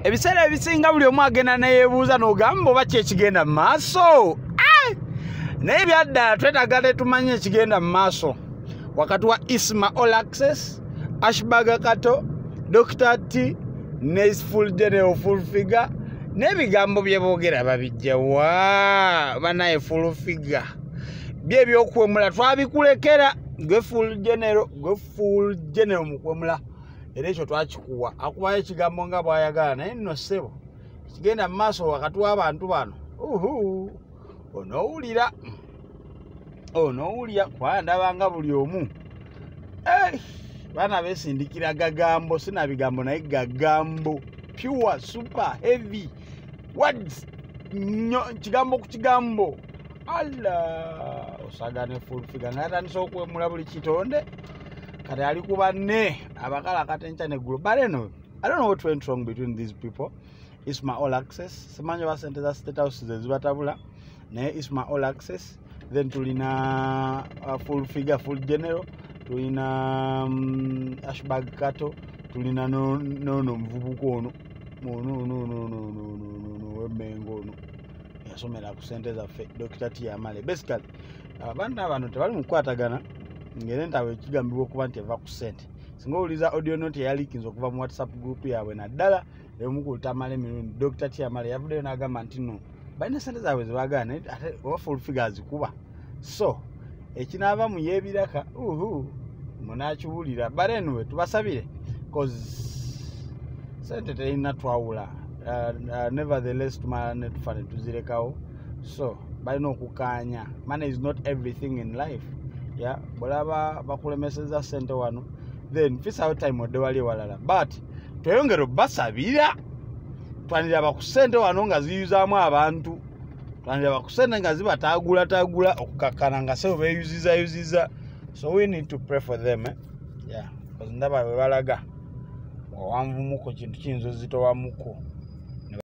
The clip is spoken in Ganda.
ebiseera ebisinga buli omu agenda neyebuuza nogamba oba kyekigenda mu maaso eh! naye byaddala twetaga tetumanyi ekigenda mu maaso wakati wa isma olaxes ashbaga kato dr t nesful general full figure n'ebigambo bye boogera babijja wa banaye full figure bye ebyokuwemula twabikulekera gwe full general gwe full general mukwemula era ekyo twakikuwa akubayo ekigambo nga bwayagala naye nno ssebo kigenda mu maaso wakati w'abantu bano uhu onowulira onowulira kwandaba nga buli omu eh, baana besindikira gagambo sina bigambo naye gagambo pure super heavy words nyo kigambo ku kigambo alla osagane fulfiga naye atandisa okwemula buli kitonde kati ali ku banne abakala akatenkya neggulo but anyway i don't know what went wrong between these people isma all access simanyi oba sente za state house ze zibatabula naye isma all access then tulina uh, full figure full general tulina um, ashbag kato tulina nono omuvubuka ono onononononono wemengo ono yasomera ku sente zaffe dokita tiyamale basically abaana bano tebali mu kukwatagana ngere nti abo ekigambibwa okuba nti eva ku sente singa owuliza audio note eyalikinza okuva mu whatsapp group yaabwe naddala eyomukultamala emirundi dr tiamala yavuddeyo n'agamba nti no balina sente zaabwe zebagala naye ate oba fulfiga azikuba so ekinaava mu yebiraka uhu munakiwulira but anyway tubasabire bcause sente terina twawula uh, uh, nevertheless tumala netufa netuzirekawo so balina okukaanya money is not everything in life ya bwolaba bakulemeseza sente wano then fisawo time odde wali ewalala but tweyongere obasabira twanira bakusente wano nga ziyuzaamu abantu twanira bakusente nga zibataagulatagula okukakkana nga sebo beyuzizayuziza so we need to pray for them eh? yeah. ndaba bwe balaga wawanvumuko kintu kiyinza ozitowamuko